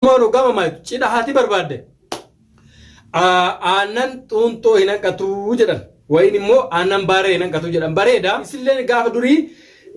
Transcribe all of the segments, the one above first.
Maaloo gama maaytu cidha haati barbaadde aannan xuuntoo hin hanqatu jedhan wayin immoo aannan baaree hin hanqatu jedhan bareeda isilleen gaafa durii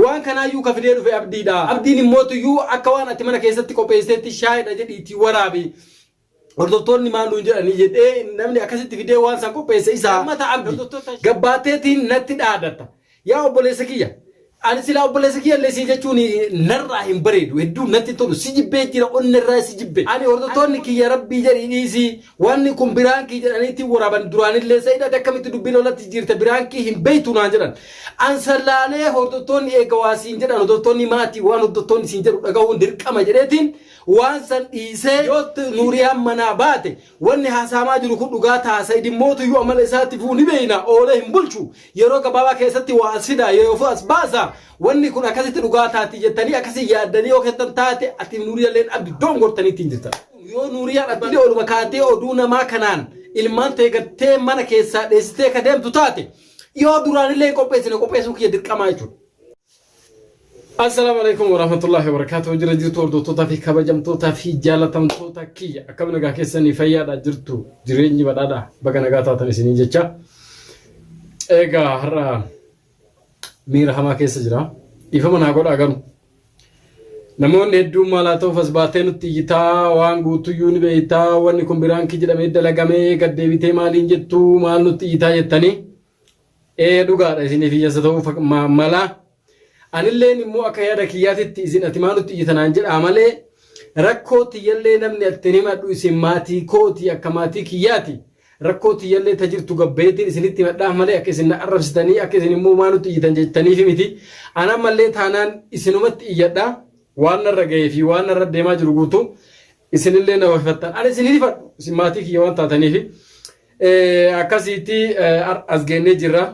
waan kanaayyuu ka fidee dhufe abdiidha abdiin immoo tuyyuu akka waan ati mana keessatti qopheesseetti shaayidha jedhiitii waraabi hordoftoonni maal nuun jedhanii jedhee namni akkasitti fidee waan san qopheesse isaa mata abdi gabbaateetiin natti dhaadata Yaa obboleessa kiyya ani silaa obboleessa kiyya illee sii jechuun narraa hin bareedu hedduu natti tolu si jibbee jira onni irraa si jibbe ani hordoftoonni kiyya rabbii jedhii dhiisii wanni kun biraankii jedhaniitti waraaban duraanillee sa'id ati akkamitti dubbii lolatti jiirta biraankii hin beeytu naan jedhan an sallaalee hordoftoonni eega waa siin jedhan hordoftoonni maatii waan hordoftoonni siin jedhu dhagahuun dirqama jedheetiin waan san dhiisee yoo nuuriyaan manaa baate wanni haasaamaa jiru kun dhugaa ta'a sa'id immootu iyyuu amala isaatti fuu ni beeyna oolee hin bulchu Yeroo gabaabaa keessatti waa as fidaa yoofu as baasaa wanni kun akkasitti dhugaa taati jettanii akkasii yaaddanii yoo keessan taate atiif nuuriyalleen abdi dongortanii ittiin jirtan. Yoo nuuriyaan attillee oluma kaatee oduu namaa kanaan ilmaan tee gattee mana keessaa dheessitee ka deemtu taate yoo duraanillee hin qopheessine qopheessuun kiyya dirqamaa jechuudha. Assalaamu alaikum warahmatullahi wabarakatuh jira jirtu hordoftoota fi kabajamtoota fi jaalatamtoota kiyya akkam nagaa keessanii fayyaadha jirtu jireenyi badhaadha baga nagaa taatan isiniin jecha eegaa har'a miira hamaa keessa jira dhiifama naa godhaa garuu namoonni hedduun maalaa ta'uuf as baatee nutti iyyitaa waan guutuyyuu ni beektaa wanni kun biraan kii jedhamee dalagamee gaddeebitee maaliin jettuu maal nutti iyyitaa jettanii Ee dhugaadha isiniif hiyyeessa ta'uu fak- ma- mala. Anilleen immoo akka yaada kiyyaatitti isin ati maa nutti iyyita naan jedhaa malee rakkoo tiyyallee namni attin himadhu isin maatii kooti akka maatii kiyyaati. Rakkoo tiyyallee ta jirtu gabbayeetiin isinitti himadhaaf malee akka isin na arrabsitanii akka isin immoo maa nutti iyyitan jettaniif miti. An ammallee taanaan isinumatti iyyadha. Waan narra gahee fi waan narra deemaa jiru guutuu isinillee na hoifattan. Ani isin hin hifadhu isin maatii kiyya waan taataniifi. Eh, akkasiitti eh, har- as geennee jirra.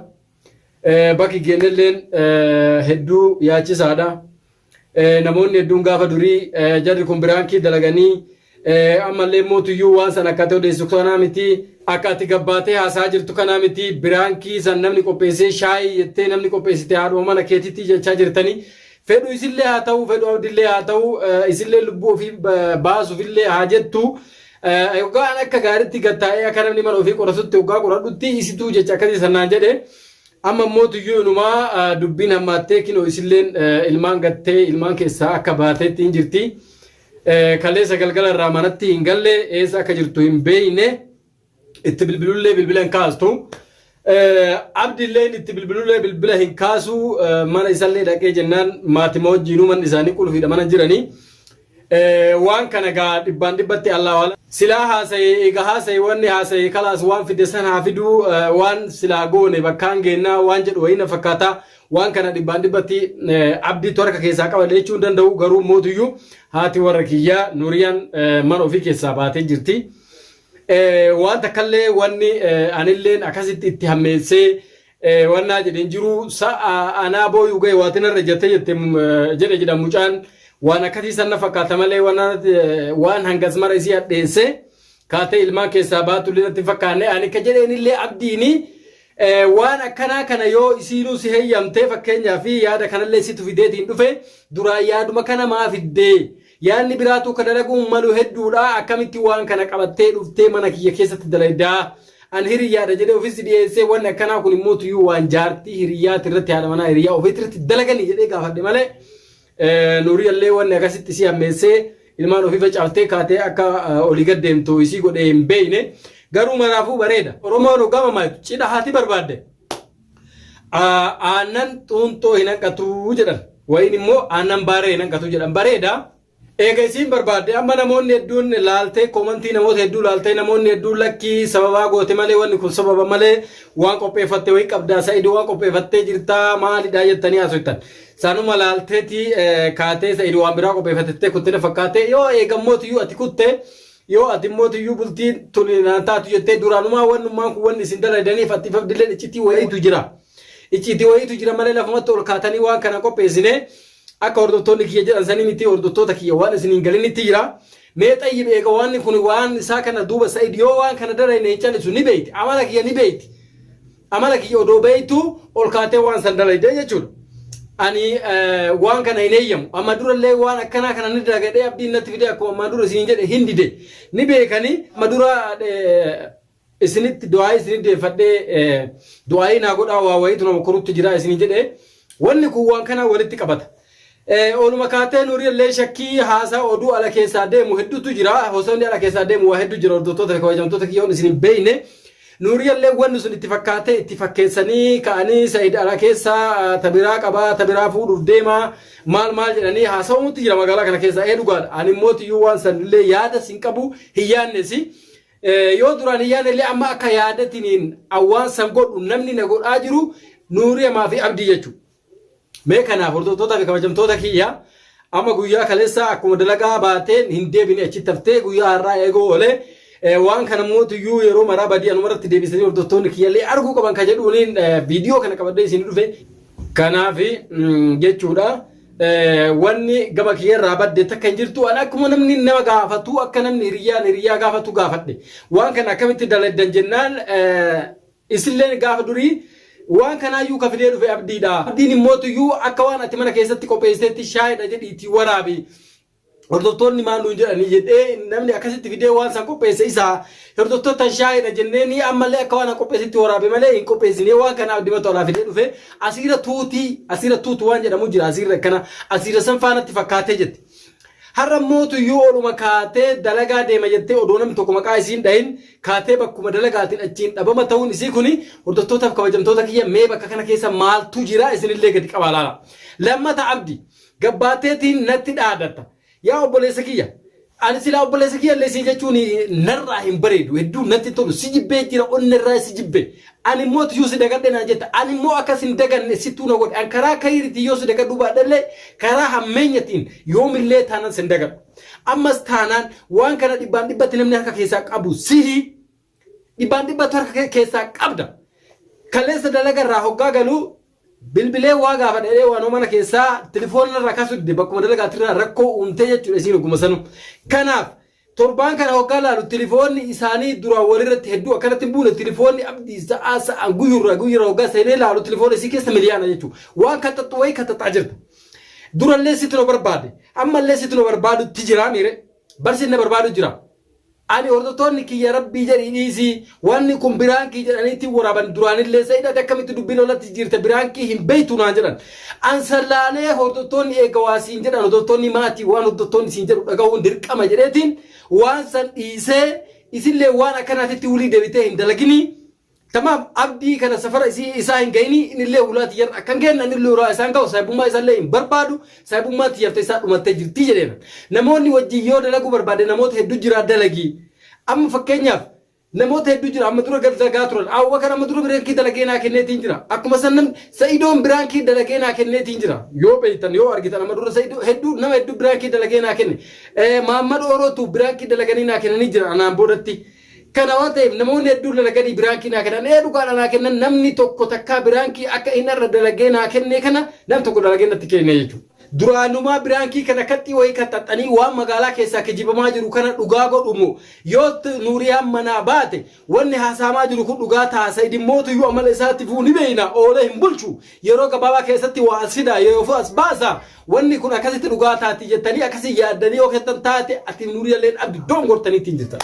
Eh, bakki geennelleen eh, hedduu yaachisaadha. Eh, namoonni hedduun gaafa durii eh, jarri kun biraankii dalaganii eh, ammallee mootuyyuu waan san akka ta'e odeessu kanaa miti akka ati gabbaatee haasaa jirtu kanaa miti biraankii san namni qopheessee shaayii jettee namni qopheessite haadhuma mana keetitti jechaa jirtanii fedhu isillee haa ta'u fedhu abdillee haa ta'u eh, isillee lubbuu ofii ba- baasuufillee haa jettu Hoggaa an akka gaaritti gad taa'ee akka namni mana ofii qoratutti hoggaa qoradhutti isituu jecha akkasii san naan jedhe amma immoo tuyyuu inumaa dubbiin hammaattee kinoo isilleen ilmaan gattee ilmaan keessaa akka baateetti hin jirti. Kaleessa galgala irraa manatti hin galle eessa akka jirtu hin beeyne itti bilbilullee bilbila hin kaastu. Abdi illeen itti bilbilullee bilbila hin kaasu mana isallee dhaqee jennaan maatima wajjiin uuman isaanii qulfiidha mana jiranii waan kana gaa dhibbaan dhibbatti allaa waala silaa haasa'e eega haasa'e wanni haasa'e kalaas waan fide san haa fiduu waan silaa goone bakkaan geennaa waan jedhu wayina fakkaata waan kana dhibbaan dhibbatti abdiitu harka keessaa qaba jechuun danda'u garuu mootuyyuu haati warra kiyyaa nuuriyaan mana ofii keessaa baatee jirti. waan takkallee wanni anilleen akkasitti itti hammeessee wannaa jedheen jiru sa'a anaa booyuu ga'e waati narra jette jette jedhe jedha mucaan waan akkasii sanna fakkaata malee waan hangas mara isii hadheesse kaatee ilmaan keessaa baatu illee fakkaanne ani akka jedheen illee abdiini waan akkanaa kana yoo isiinuu si heeyyamtee fakkeenyaa fi yaada kanallee situ fideetiin dhufe duraan yaaduma kana maa fiddee Yaanni biraatu ka dalaguun malu hedduudha akkamitti waan kana qabattee dhuftee mana kiyya keessatti dalayda an hiriyyaadha jedhee ofis dhiyeessee wanni akkanaa kun immoo tuyyuu waan jaartii hiriyyaati irratti haadha manaa hiriyyaa ofiitti irratti dalaganii jedhee gaafadhe malee nuuriyallee wanni akkasitti isii hammeessee ilmaan ofii facaaftee kaatee akka olii gad deemtu isii godhee hin beeyne garuu maraafuu bareeda oromoon hogama maaytu cidha haati barbaadde aannan xuuntoo hin hanqatu jedhan wayiin immoo aannan baaree hin hanqatu jedhan bareeda eega isiin barbaadde amma namoonni hedduun laaltee koomantii namoota hedduu laaltee namoonni hedduun lakkii sababaa goote malee wanni kun sababa malee waan qopheeffatte wayii qabdaa sa'idoo waan qopheeffattee jirtaa maalidhaa jettanii haasoftan sanuma laalteeti kaatee sa'idoo waan biraa qopheeffatte kuttee fakkaatee yoo eegammootiyyu ati kutte Yoo ati immoo tuyyuu bultiin tun naan taatu jettee duraanumaa wannummaan kun wanni isin dalaydaniif atti fabdilleen iccitii wayiitu jira. Iccitii wayiitu jira malee lafumatti ol kaatanii waan kana qopheessine akka hordoftoonni kiyya jedhan sanii miti hordoftoota kiyya waan isin hin galinitti jira. Mee xayyib eega waanni kun waan isaa kana duuba sa'id yoo waan kana dalayne hin calisu ni beeyti amala kiyya ni beeyti. Amala kiyya odoo beektuu ol kaatee waan san dalaydee jechuudha. Ani waan kana hin eeyyamu. Amma durallee waan akkanaa kana ni dalagadhee abdiin natti fidee akkuma ammaa dura isiniin jedhe hin dide. Ni beekanii amma dura isinitti du'aayii isinitti deeffadhee du'aayii naa godhaa waa wayiitu nama korutti jira isiniin jedhe. Wanni kun waan kanaa walitti qabata. Ooluma kaatee nuurii illee shakkii haasaa oduu ala keessaa deemu hedduutu jira. Hosoonni ala keessaa deemu waa hedduu jira hordoftoota fi kabajamtoota kiyyoon isin hin beeyne. Nuurii illee wanni sun itti fakkaatee itti fakkeessanii ka'anii Said ala keessaa tabiraa qabaa tabiraa fuudhuuf deemaa maal maal jedhanii haasawamutti jira magaalaa kana keessaa ee dhugaadha. Ani immoo tiyyuu waan san illee yaada sin qabu hin yaannesi. Yoo duraan hin yaanne illee amma akka yaadatiniin waan san godhu namni na godhaa jiru nuurii amaa fi abdii jechuudha. Mee kanaaf hordoftoota fi kabajamtoota kiyya amma guyyaa kaleessaa akkuma dalagaa baateen hin deebine achi taftee guyyaa har'aa eeguu oolee waan kana mootiyyuu yeroo maraa badii anuma irratti deebisanii hordoftoonni kiyyallee arguu qaban ka jedhuuniin viidiyoo kana qabadhee isin dhufe kanaaf jechuudha. Wanni gama kiyyarraa badde takka hin jirtu an akkuma namni nama gaafatu akka namni hiriyyaan hiriyyaa gaafatu gaafadhe waan kana akkamitti daladdan jennaan Isilleen gaafa durii waan kanaayyuu ka fidee dhufe Abdiidha. Abdiin immootuyyuu akka waan ati mana keessatti qopheesiteetti shaayidha jedhii itti waraabi. Hordoftoonni maal nuun jedhanii jedhee namni akkasitti fidee waan san qopheesse isaa hordoftootan shaayidha jenneeni ammallee akka waan an qopheessitti waraabe malee hin qopheessinee waan kana abdimatu alaa fidee dhufe asiira tuutii asiira tuutu waan jedhamu jira asiirra akkana asiira san faanatti fakkaatee jette. Har'a immoo tuyyuu oluma kaatee dalagaa deema jettee odoo namni tokko maqaa isiin dhahin kaatee bakkuma dalagaatiin achiin dhabama ta'uun isii kuni hordoftootaaf kabajamtoota kiyya mee bakka kana keessa maaltu jira isinillee gadi qabaa laala. Lammata Abdi gabbaateetiin natti dhaadatta. Yaa obboleessa kiyya ani silaa obboleessa kiyyallee sii jechuun narraa hin bareedu hedduu natti hin tolu si jibbee jira onnerraa si jibbe Ani immoo ti yoo si dagadhe naan jetta. Ani immoo akka sin daganne sittuu na godhe. An karaa kayriitiin yoo si dagadhuu baadhe illee karaa hammeenyatiin yoom illee taanan sin dagadhu. Ammas taanaan waan kana dhibbaan dhibbatti namni harka keessaa qabu sihi. Dhibbaan dhibbattu harka kee keessaa qabda. Kaleessa dalaga irraa hoggaa galu bilbilee waa gaafa dheedhee waanoo mana keessaa tilifoona irraa kaasuu dide bakkuma dalagaatirraa rakkoo uumtee jechuudha isiin ogguma sanuu. Kanaaf Torbaan kana hoggaa laalu tilifoonni isaanii duraan walirratti hedduu akkanatti hin buune tilifoonni abdii sa'aa sa'aan guyyurraa guyyurra hoggaa seenee laalu tilifoona isii keessa miliyaana jechuu waan kaxaxxu wayii kaxaxaa jirta durallee situ na barbaade ammallee situ na barbaadutti jiraa miire barsin na barbaadu jira ani hordoftoonni kiyya rabbii jedhii dhiisii Wanni kun biraankii jedhaniiti waraaban duraanillee Sa'id ati akkamitti dubbii lolatti jijjiirta biraankii hin beektu naan jedhan. An san laalee hordottoonni eega waa siin jedhan hordottoonni maatii waan hordottoonni siin jedhu dhagahuun dirqama jedheetiin waan san dhiisee isillee waan akkanaatitti wulii debitee hin dalaginii tamaam abdii kana safara isii isaa hin gayinii inillee hulaa tiyyarra akkan geenna anillee hulaa isaan gahu saahibummaa isallee hin barbaadu saahibummaan tiyyarta isaa dhumattee jirtii jedheera. Namoonni wajjin yoo dalaguu barbaadde namoota heddu jiraa dalagii amma fakkeenyaaf Namoota hedduu jira amma dura gad lagaa turan Abubakar amma dura biraankii dalagee naa kenneetiin jira akkuma san namni Sa'idoon biraankii dalagee naa kenneetiin jira yoo beektan yoo argitan amma dura Sa'idoo hedduu nama hedduu biraankii dalagee naa kenne Eh, Maammad Orootu biraankii dalaganii naa kennanii jira anaan boodatti kana waan ta'eef namoonni hedduu dalaganii biraankii naa kennan ee dhugaadha naa kennan namni tokko takkaa biraankii akka inni irra dalagee naa kennee kana nam tokko dalagee natti kennee jechuudha. Duraanumaa biraankii kana kaxxii wayii kaxxaxxanii waan magaalaa keessaa kijibamaa jiru kana dhugaa godhu moo? Yoo Nuuriyaan manaa baate wanni haasa'amaa jiru kun dhugaa taha Saidin mootuyyuu amala isaa tifuu ni beeyna oolee hin bulchu yeroo gabaabaa keessatti waa as fidaa yeroofuu as baasa wanni kun akkasitti dhugaa taati jettanii akkasii yaaddanii yoo keessan taate atiif Nuuriyalleen abdi dongortanii ittiin jirtan.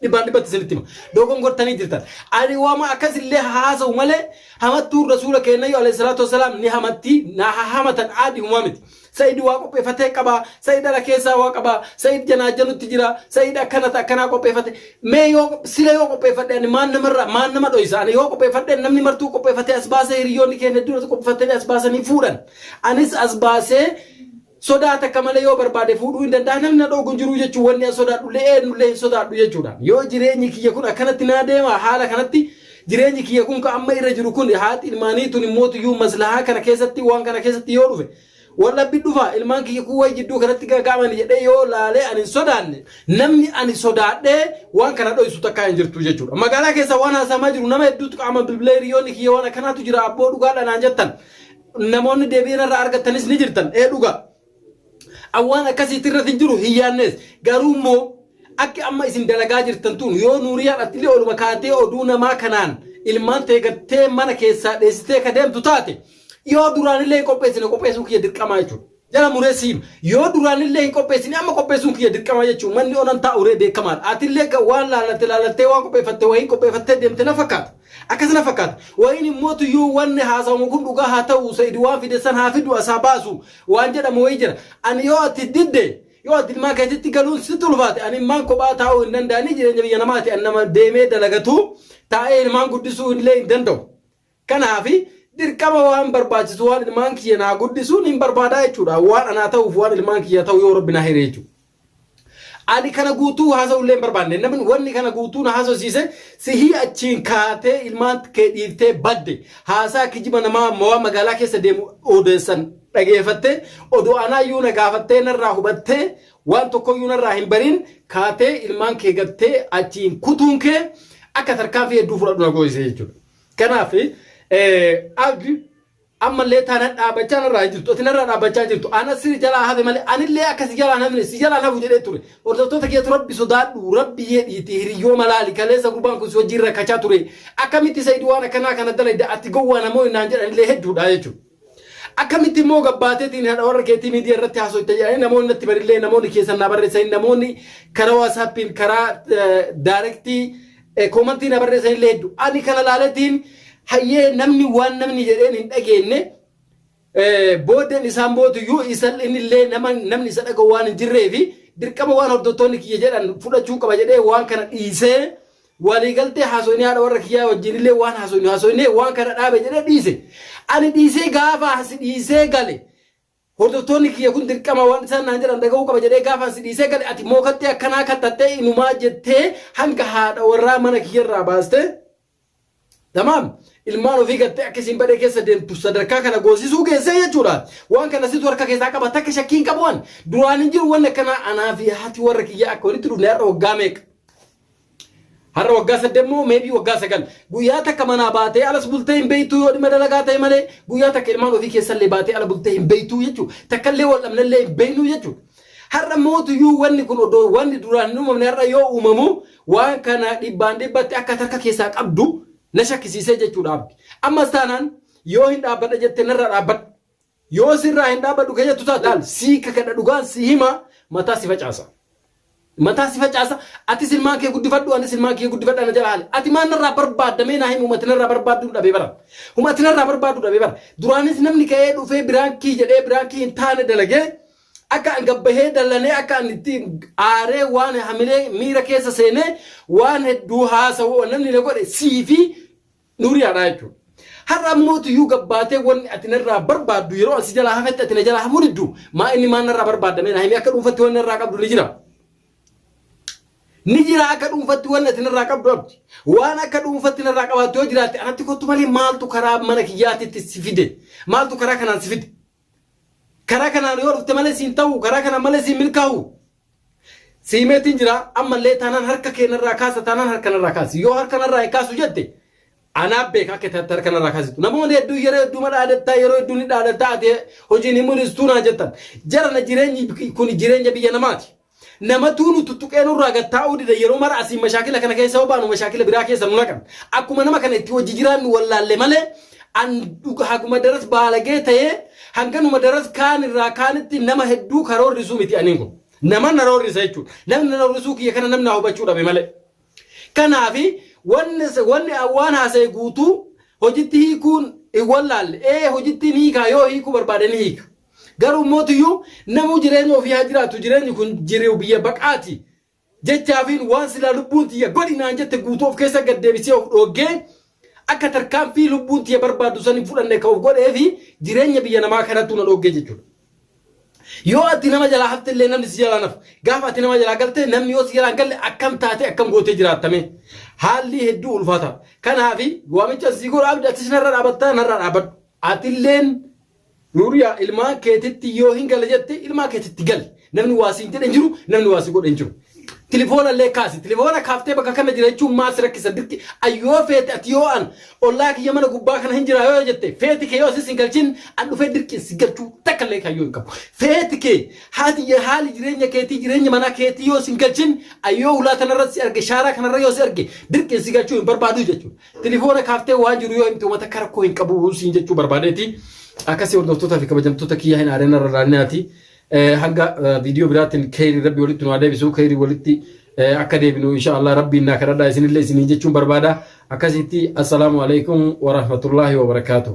dhibbaan dhibbatti isinitti hima. Dogongortanii jirtan. Ani wama akkasillee haasa'u malee hamattuun rasuula keenyayyu alayhi salaatu wasalaam ni hamatti na hahamatan aadi humaa miti. Sa'id waa qopheeffatee qaba, Sa'id ala keessaa waa qaba, Sa'id janaa janutti jira, Sa'id akkanata akkanaa qopheeffate. Mee yoo sila yoo qopheeffadhe ani maan namarra maan nama dhoysa ani yoo qopheeffadhe namni martuu qopheeffatee as baasee hiriyoonni keenya hedduun qopheeffatanii as baasanii fuudhan. Anis as baasee Sodaa takka malee yoo barbaade fuudhuu hin danda'a, namni na dhooggu hin jiru jechuun wanni an sodaadhu illee eenyu illee hin sodaadhu jechuudhaan yoo jireenyi kiyya kun akkanatti naa deema haala kanatti jireenyi kiyya kun ka amma irra jiru kun haati ilmaanii tun immoo tuyyuu maslahaa kana keessatti waan kana keessatti yoo dhufe wal dhabbi dhufa ilmaan kiyya kun wayi jidduu kanatti gaaga'amani jedhee yoo laalee an hin sodaanne namni ani sodaadhee waan kana dhoysu takkaa hin jirtu jechuudha magaalaa keessa waan haasaamaa jiru nama hedduutu qaama bilbilee hiriyoonni kiyya waan akkanaatu jira abboo dhugaadha naan jettan namoonni deebii irra argattanis ni jirtan ee dhugaa an waan akkasiitti irratti hin jiru hin yaannees garuu immoo akki amma isin dalagaa jirtan tun yoo nuuriyaan attillee oluma kaatee oduu namaa kanaan ilmaan tee gattee mana keessaa dheessitee ka deemtu taate yoo duraanillee hin qopheessine qopheessuu kiyya dirqamaa jechuudha. Jala muree siif yoo duraanillee hin qopheessine amma qopheessuun kiyya dirqama jechuun manni onan taa'u ree beekamaadha. Atillee ga- waan laalatte laalattee waan qopheeffatte wayiin qopheeffattee deemte na fakkaata. Akkas na fakkaata. Wayiin immoo tuyyuu wanni haasawamu kun dhugaa haa ta'u Sa'id waan fide san haa fidu as haa baasu waan jedhamu wayii jira. Ani yoo ati didde yoo ati ilmaan keetitti galuun sitti ulfaate ani ilmaan kophaa taa'uu hin danda'anii jireenya biyya namaati ani nama deemee dalagatuu taa'ee ilmaan guddisuu illee hin danda'u. Kanaaf, dirqama waan barbaachisu waan ilmaan kiyya naa guddisu nin barbaada jechuudha. Waan anaa ta'uuf waan ilmaan kiyyaa ta'u yoo Rabbi naa hire jechuudha. Ani kana guutuu haasa'ullee hin barbaanne. Namni wanni kana guutuu na haasofsiise sihii achiin kaatee ilmaan kee dhiiftee badde. Haasaa kijiba namaa mawaa magaalaa keessa deemu odeessan dhageeffattee odoo anaayyuu na gaafattee narraa hubattee waan tokkoyyuu narraa hin bariin kaatee ilmaan kee gattee achiin kutuun kee akka tarkaanfii hedduu fudhadhu na goosise jechuudha. Kanaaf ag ammallee taana dhaabachaa narraa hin jirtu ati narraa dhaabachaa jirtu ana siri jalaa hafe malee anillee akka si jalaan hafne si jalaan hafu jedhee ture hordoftoota keetu rabbi sodaadhu rabbi jedhiiti hiriyoo malaali kaleessa gurbaan kun si wajjin rakkachaa ture akkamitti sayidi waan akkanaa kana dalayda ati gowwaa namoonni naan jedhanillee hedduudha jechuudha. Akkamitti immoo gabbaateetiin haadha warra keetii miidiyaa irratti haasoyta jedhanii namoonni natti barillee namoonni keessan naa barreessanii namoonni karaa waasaappiin karaa daarektii koomantii na barreessanillee hedduu ani kana laaletiin hayyee namni waan namni jedheen hin dhageenne booddeen isaan bootu iyyuu isan innillee nama namni isa dhaga'u waan hin jirree fi dirqama waan hordoftoonni kiyya jedhan fudhachuu qaba jedhee waan kana dhiisee Walii galtee haasoyne haadha warra kiyyaa wajjin illee waan haasoynu haasoynee waan kana dhaabe jedhee dhiise. Ani dhiisee gaafa asi dhiisee gale hordoftoonni kiyya kun dirqama waan isaan naan jedhan dhaga'uu qaba jedhee gaafa asi dhiisee gale ati immoo kattee akkanaa kattattee inumaa jettee hanga haadha warraa mana kiyyarraa baastee Tamaam ilmaan ofii gattee akka isiin badee keessa deemtu sadarkaa kana goosisuu geessee jechuudha. Waan kana situ harka keessaa qaba takka shakkii hin qabu an. Duraan hin jiru wanni akkanaa anaa fi haati warra kiyyaa akka walitti dhufne har'a waggaa meeqa. Har'a waggaa saddeet moo maybe waggaa sagal. Guyyaa takka manaa baatee alas bultee hin beektu yoo dhimma dalagaa ta'e malee guyyaa takka ilmaan ofii keessallee baatee ala bultee hin beektu jechuudha. Takkallee wal dhabnellee hin beeknu jechuudha. Har'a mootuyyuu wanni kun odoo wanni duraan hin uumamne har'a yoo uumamu waan kana dhibbaan dhibbatti akka ati harka keessaa qabdu na shakkisiisee jechuudha abdi. Ammas taanaan yoo hin dhaabbadha jette narraa dhaabbadhu. Yoo sirraa hin dhaabbadhu ka jettu taate laal sii kakadha dhugaan sii hima mataa si facaasa. Mataa si facaasa atis ilmaan kee guddifadhu anis ilmaan kiyya guddifadha na jala haali. Ati maal narraa barbaadda mee naa himi humati narraa barbaadduun dhabee bara. Humati narraa barbaaddu dhabee bara. Duraanis namni ka'ee dhufee biraankii jedhee biraankii hin taane dalagee Akka an gad bahee dallanee akka an itti aaree waan hamilee miira keessa seenee waan hedduu haasa'u wan namni na godhe sii fi Nuuriyaadha jechuudha. Har'a ammoo tuyyuu gad baatee wanni ati narraa barbaaddu yeroo an si jalaa hafetti ati na jalaa hafuu diddu maa inni maan narraa barbaadda mee naa himi akka dhuunfatti wanni narraa qabdu ni jira. Ni jira akka dhuunfatti wanni ati narraa qabdu abdi. Waan akka dhuunfatti narraa qabaattu yoo jiraatte anatti kottu malee maaltu karaa mana kiyyaatitti si fide maaltu karaa kanaan si fide. Karaa kanaan yoo dhufte malee siin ta'u, karaa kanaan malee siin milkaa'u. Siimeetiin jira ammallee taanaan harka keenarraa kaasa taanaan harka narraa kaasi. Yoo harka narraa hin kaasu jette anaa beeka akka taate harka narraa kaasitu. Namoonni hedduu yeroo hedduu ma dhaadattaa yeroo hedduu ni dhaadattaa ati hojiin hin mul'istu naa jettan. Jarana jireenyi kun jireenya biyya namaati. Namatuu nu tuttuqee nurraa gad taa'uu dida yeroo mara asiin mashaakila kana keessa yoo baanu mashaakila biraa keessa nu naqan. Akkuma nama kana itti wajji jiraannu wallaalle malee an dhuga haguma daras baalagee ta'ee hanganuma daras kaan irraa kaanitti nama hedduu ka roorrisu miti aniin kun. Nama na roorrisa jechuudha. Namni na roorrisuu kiyya kana namni na hubachuu dhabe malee. Kanaafi wanni wanni an waan haasa'e guutuu hojitti hiikuun hin wallaalle. Ee hojittiin hiikaa yoo hiikuu barbaade ni hiika. Garuu mootiyyuu namuu jireenya ofii haa jiraatu jireenyi kun jiriu biyya baqaati jechaafiin waan silaa lubbuun tiyya godhi naan jette guutuu of keessa gad deebisee of dhooggee akka tarkaanfii lubbuun tiyya barbaaddu san hin fudhanne ka of godhee fi jireenya biyya namaa kanattuu na dhooggee jechuudha. Yoo ati nama jalaa hafte illee namni si jalaa nafu. Gaafa ati nama jalaa galte namni yoo si jalaa hin galle akkam taatee akkam gootee jiraattame. Haalli hedduu ulfaata. Kanaafi waamicha sii godha abdi atis narra dhaabattaa narra dhaabadhu. Atilleen Nuuriyaa ilmaan keetitti yoo hin gala jette ilmaan keetitti gali. Namni waa siin jedhe hin jiru, namni waa si godhe hin jiru. Tilifoona illee kaasi. Tilifoona kaaftee bakka kana jira jechuun maal si rakkisa dirqi ayyoo feete ati yoo an ollaa kiyya mana gubbaa kana hin jiraa yoo jette feeti kee yoo asis hin galchin an dhufee dirqiin si galchuu takka illee kayyoo hin qabu. Feeti kee haati je- haali jireenya keetii jireenya manaa keetii yoo sin galchin ayyoo hulaa tanarra si arge shaaraa kanarra yoo si arge dirqiin si galchuu hin barbaadu jechuudha. Tilifoona kaaftee waa jiru yoo himte uummata akka rakkoo hin qabu siin jechuu barbaadeeti. Akkasii hordoftootaa fi kabajamtoota kiyyaa hin aarina irra laalinaati. Hanga viidiyoo biraatiin keeyrii rabbi walitti nu haa deebisu keeyrii walitti akka deebinu insha Allah rabbiin naa kadhadhaa isinillee isiniin jechuun barbaada. Akkasitti assalaamu alaikum wa rahmatullaahi wa barakaatuh.